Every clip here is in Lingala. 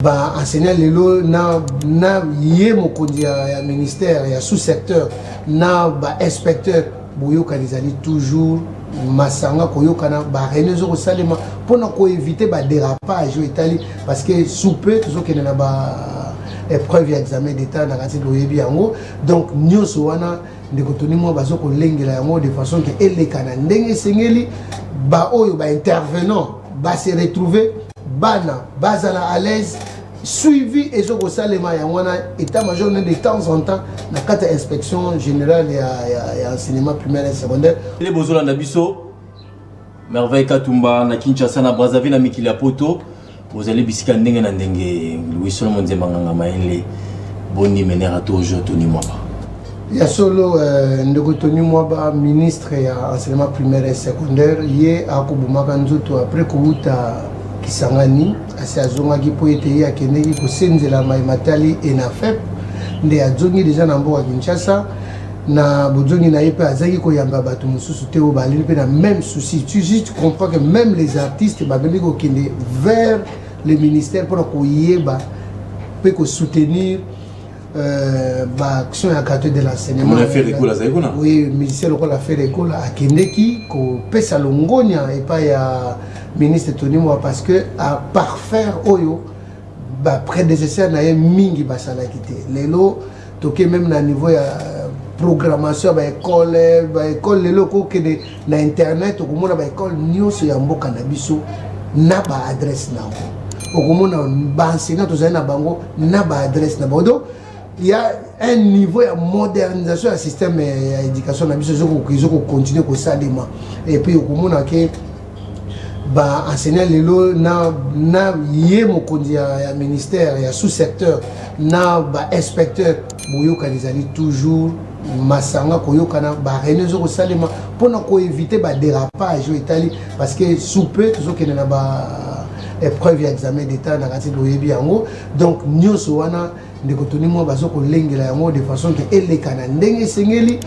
ba enseignant lelo na, na ye mokonzi ya, ya ministère ya sous-secteur na ba inspecteur boyokani ezali toujours masanga koyokana barene ezo kosalema mpo na koevite badérapage oyo etali parce que sous peu tozokende na ba épreuve ya examen d'état na kati boyebi yango donc nyonso wana ndeko toni mwa bazo kolengela yango de façon ke elekana ndenge esengeli baoyo baintervenant base retrouver bana bazala à l'aise suivi ezo kosalema yango wana état major ne de temps en temps na kati ya inspection générale ya, ya, ya enseignement primaire et secondaire ele bozolanda biso merveille katumba na kinshasa na brazzaville na mikili ya poto bozali bisika ndenge na ndenge louis solomon nzemba nganga mayele boni menera tojo toni mwaba ya solo euh, ndeko tony mwaba ministre ya enseignement primaire et secondaire ye akobomaka nzoto après kowuta kisangani asi azongaki mpo ete ye akendeki kosenzela mai matali enafep nde azongi deja na mboka kinshasa na bozongi na ye mpe azalaki koyamba bato mosusu te oyo baleli mpe na même souci tu juste comprends que même les artistes babandi kokende vers le ministère mpona koyeba mpe kosoutenir Euh, baaction ya quartier de l'enseignementoui musicien lokola fere ekola akendeki kopesa longonia epai ya ministre tony moa parce que à parfaire oyo baprédécesseur na ye mingi basalaki te lelo toke meme na niveau ya programmation ya baekole baekole lelo kokende na internet okomona ba école nyonso ya mboka na biso na ba adresse na yango okomona ba enseignant tozali na bango na ba adresse na bango donc ya un niveau ya modernisation ya système ya éducation na biso ezo kocontinue kosalema et puis okomona ke ba enseignant lelo na, na ye mokonzi ya, ya ministère ya sous-secteur na ba inspecteur boyokani ezali toujours masanga koyokana ba réunion ezokosalema mpona koevite ba dérapage oyo etali parce que sous peu tozokende na ba épreuve ya examen d'état na kati boyebi yango donc nyonso wana ndeko toni mwa bazo kolengela yango de façon ke eleka na ndenge esengeli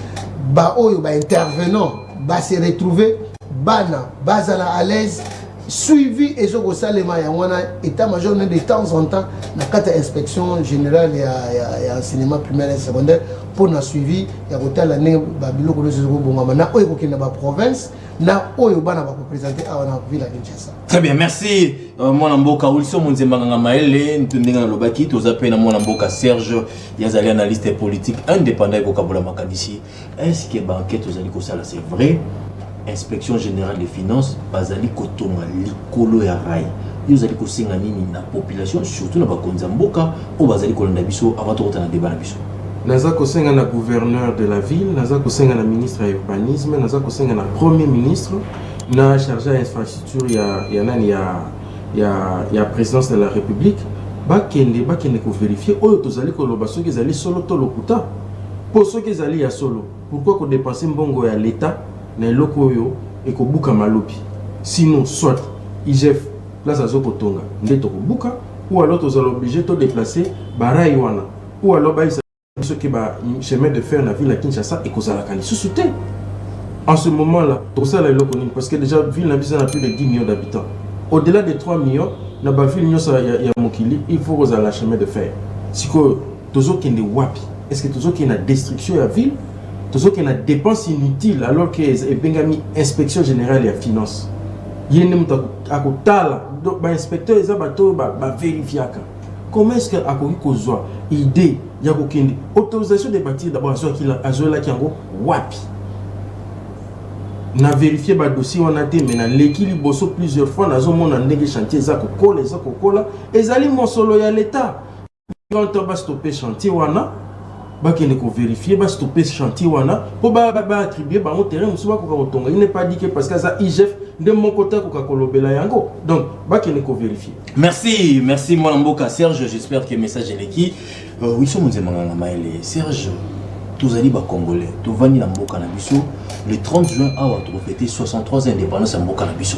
baoyo ba intervenant ba se retrouver bana bazala à l'aise suivi ezo kosalema yango wana état major ne de temps en temps na kati ya inspection générale ya, ya, ya enseignement primaire et secondaire mpo na suivi ya kotala ndenge babiloko nyonso ezokobongama na oyo ekokende na baprovince na oyo bana bakopresente awa na ville ya kinshasa très bien merci euh, mwana mboka uliso monzemba nganga mayele ndenge nalobaki toza mpe na mwana mboka serge ye azali analyste politique indépendant ekokabola makanisi Est ce que ba enquetes ozali kosala c'est vrai? Inspection generale des finances bazali kotonga likolo ya rail. Yo ozali kosenga nini na population surtout na bakonzi ya mboka oyo bazali kolanda biso avant tokota na debat na biso? Naza kosenga na gouverneur de la ville, naza kosenga na ministre ya urbanisme, naza kosenga na premier ministre, na charge ya infrastructure ya, ya nani ya ya ya presidence de la republique bakende bakende ko verifier oyo tozali koloba soki ezali solo to lokuta po soki ezali ya solo pourquoi ko depenser mbongo ya l'etat na eloko oyo ekobukama lobi sinon soit igf place azo kotonga nde tokobuka ou alors tozala oblige to deplacer ba rails wana ou alors bayisa soki ba chemin de fer na ville ya kinshasa ekozalaka lisusu te en ce moment là tokosala eloko nini parce que déjà ville na biso na plus de 10 millions d'habitants au delà de 3 millions na baville nyonso ya, ya mokili il faut kozala chemin de fer sikoyo tozokende wapi est ce que tozokende na destruction ya ville tozokende na dépense inutile alors que ebengami inspection générale ya finance ye nde moto akotala donc bainspecteur eza bato oyo baverifiaka ba Comment est-ce que akoki kozwa idee ya kokende autorisation de bâtir d'abord azwaki azwelaki yango wapi? Na verifier ba dossier wana te mais naleki liboso plusieurs fois nazomona ndenge chantier eza kokola eza kokola ezali mosolo ya l'etat nto bastope chantier wana bakende koverifie bastope chantier wana mpo baattribue ba bango terrain mosusu bakoka kotonga il n'est pas dit que parce que aza igf nde moko te akoka kolobela yango donc bakende koverifie Merci, merci moi mboka Serge, j'espère que message est qui. Euh, oui, somo nzema nganga maele. Serge, tozali ba congolais, tovandi na mboka na biso. Le 30 juin awa tokofete 63 indépendance ya mboka na biso.